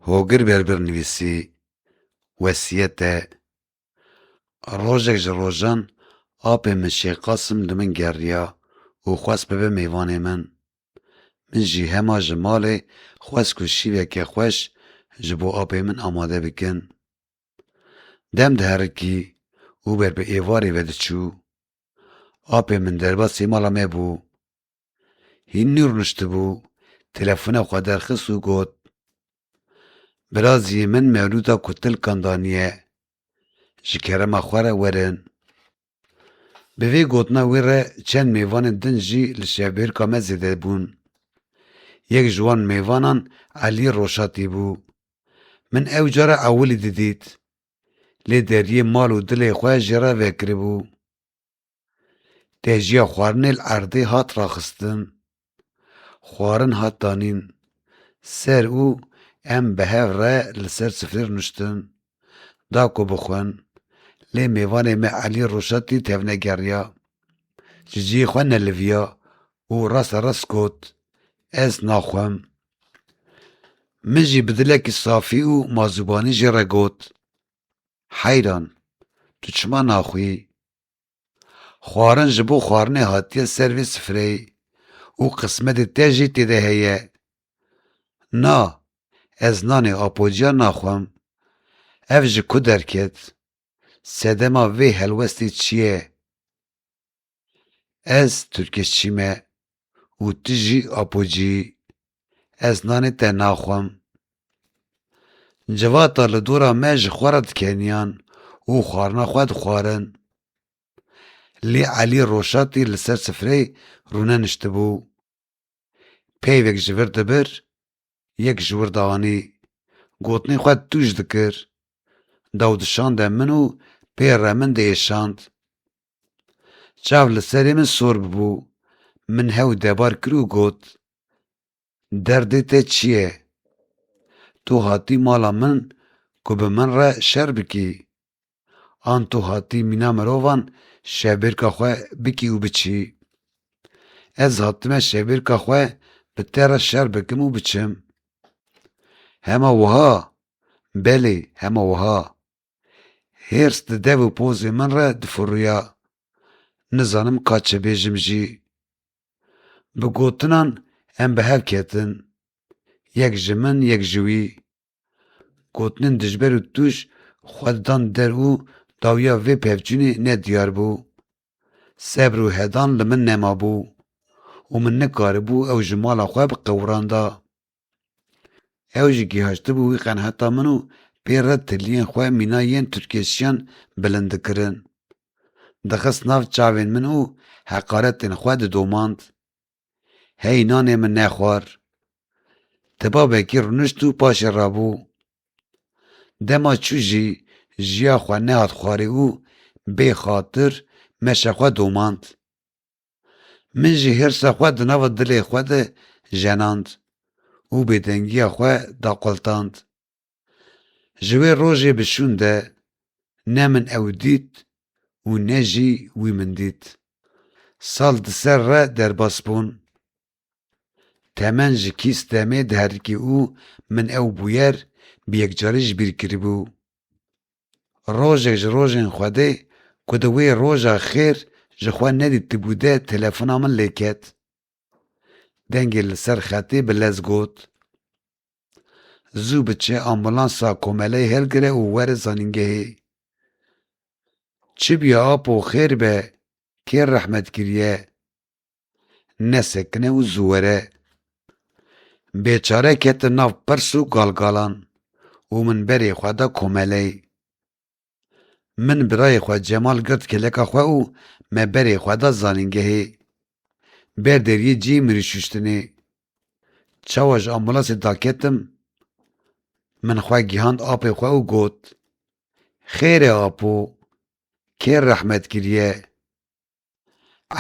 Hogir Berbir nivîsî, Wesîyete, Rojek ji rojan apê min Şêx Qasim li min geriya û xwest bibe mêvanê min. Min jî hema ji malê xwest ku şîveke xweş ji bo apê min amade bikin. Dem diherikî û ber bi êvarê ve diçû. Apê min derbasî mala me bû. Hînî rûniştibû, telefona xwe derxist û got, Biraziyê min mewlûda ku tilkan daniye, ji kerema xwe re werin. Bi vê gotina wê re çend mêvanên din jî li şevbêrka me zêde bûn. Yek ji wan mêvanan Elî Roşatî bû. Min ew cara ewilî didît. Lê deriyê mal û dilê xwe jê re vekiribû. Têjiya xwarinê li erdê hat raxistin, xwarin hat danîn ser û em bi hev re li ser sifrê rûniştin da ku bixwin lê mêvanê me Elî Roşatî tevnegeriya, ji cihê xwe neliviya û rasta rast got, Ez naxwim. Min jî bi dilekî safî û mazûbanî jê re got, Heyran, tu çima naxwî? Xwarin ji bo xwarinê hatiye ser vê sifreyê û qismetê te jî tê de heye. Na, ez nanê apocuya naxwim. Ev ji ku derket? Sedema vê helwestê çi ye? Ez tirkêşçî me. û tu jî apocî, ez nanê te naxwim. Civata li dora me ji xwe re dikeniyan û xwarina xwe dixwarin. Lê Elî Roşatî li ser sifreyê rûne niştibû. Peyvek ji vir dibir, yek ji wir dianî. Gotinên xwe tûj dikir. Dew dişande min û pê re min diêşand. Çav li serê min sor bû. Min hew debar kir û got, Derdê te çi ye? Tu hatî mala min ku bi min re şer bikî? An tu hatî mîna mirovan şevbêrka xwe bikî û biçî? Ez hatime şevbêrka xwe bi te re şer bikim û biçim. Hema wiha? Belê, hema wiha. Hêrs di dev û pozê min re difuriya. Nizanim ka çi bêjim jî. Bi gotinan em bi hev ketin. Yek ji min, yek ji wî. Gotinên dijber û tûj xwe didan der û dawiya vê pevçûnê ne diyar bû. Sebr û hedan li min nemabû û min nikaribû ew ji mala xwe biqewiranda. Ew jî gihaştibû wî qenheta min û pê re tiliyên xwe mîna yên Tirkêşiyan bilind dikirin, dixist nav çavên min û heqaretên xwe didomand. Hey nanê min nexwar. Tiba vekî rûnişt û paşê rabû. Dema çû jî jiya xwe nehat xwarê û bê xatir meşa xwe domand. Min jî hirsa xwe di nava dilê xwe de jenand û bêdengiya xwe daqultand. Ji wê rojê bi şûn de ne min ew dît û ne jî wî min dît. Sal di ser re derbas bûn. Temen ji kîs demê diherikî û min ew bûyer bi yekcarî ji bîr kiribû. Rojek ji rojên Xwedê ku di wê roja xêr ji xwe nedîtibû de telefona min lê ket. Dengê li ser xetê bi lez got, Zû biçe ambulansa komeleyê hilgire û were zanîngehê. Çi bûye Apo xêr be, kê rehmet kiriye? nesekine û zû were. Bêçare ketin nav pirs û galgalan û min berê xwe da komeleyê. Min birayê xwe Cemal girt kêleka xwe û me berê xwe da zanîngehê. Berdêr yê cî mirî şuştinê. Çawa ji ambulasê daketim, min xwe gihand apê xwe û got, Xêr e apo, kê rehmet kiriye?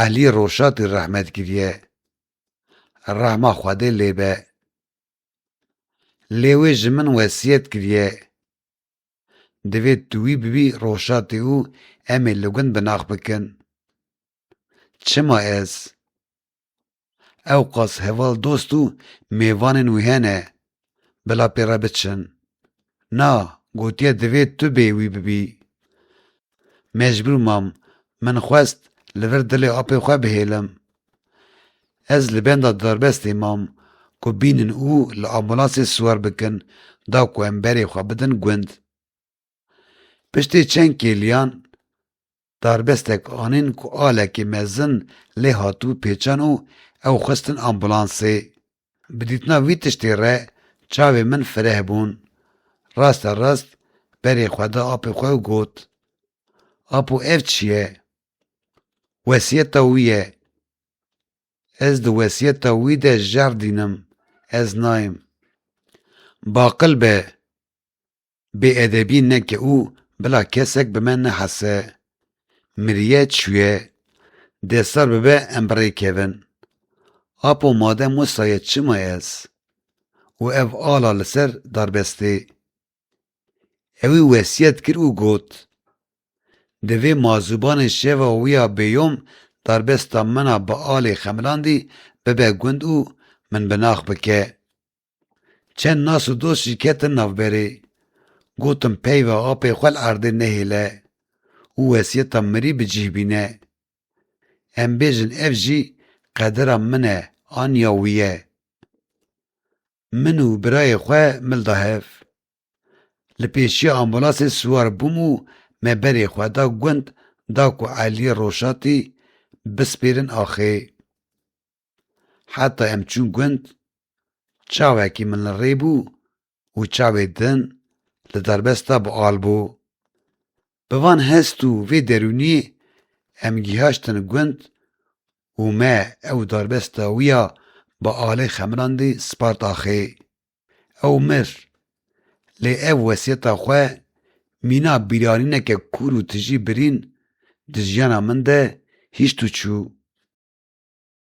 Elî Roşatî rehmet kiriye, rehma Xwedê lê be. Lê wê ji min wesiyet kiriye. Divê tu wî bibî Roşatî û em ê li gund bi nax bikin. Çima ez? Ewqas heval dost û mêvanên wî hene, bila pê re biçin. Na, gotiye divê tu bê wî bibî. Mecbûr mam, min xwest li vir dilê apê xwe bihêlim. Ez li benda darbestê mam ku bînin û li ambûlansê siwar bikin da ku em berê xwe bidin gund. Piştê çend kêliyan Darbestek anîn ku alekî mezin lê hatibû pêçan û ew xistin ambûlansê. Bi dîtina vî tiştê re çavên min fireh bûn. Raste rast berê xwe da apê xwe û got, Apo ev çi ye? Wesiyeta wî ye. Ez di wesiyeta wî de jerdîn im, ez nayêm. Baqil be! Bêedebî neke û bila kesek bi me nehese. Miriye çûye. Dê sar bibe em bi rê kevin. Apo made Musa ye çima ez? Û ev ala li ser darbestê. Ewî wesiyet kir û got, Divê mazûbanê şeva wî ya bêyom darbesta min a bi alê xemilandî bibe gund û min bi nax bike. Çend nas û dost jî ketin navberê. Gotim peyva apê xwe li erdê nehêle û wesiyeta mirî bi cih bîne. Em bêjin ev jî qedira min e an ya wî ye. Min û birayê xwe mil da hev. Li pêşiya ambulasê siwar bûm û me berê xwe da gund da ku Eliyê Roşatî bispêrin axê. Heta em çûn gund, çavekî min li rê bû û çavê din li derbesta bi al bû. Bi van hest û vê derûnî em gîhaştin gund û me ew darbesta wî ya bi alê xemrandî spart axê. Ew mir. Lê ev wesiyeta xwe mîna bîranîneke kûr û tijî birîn di jiyana min de hîşt û çû.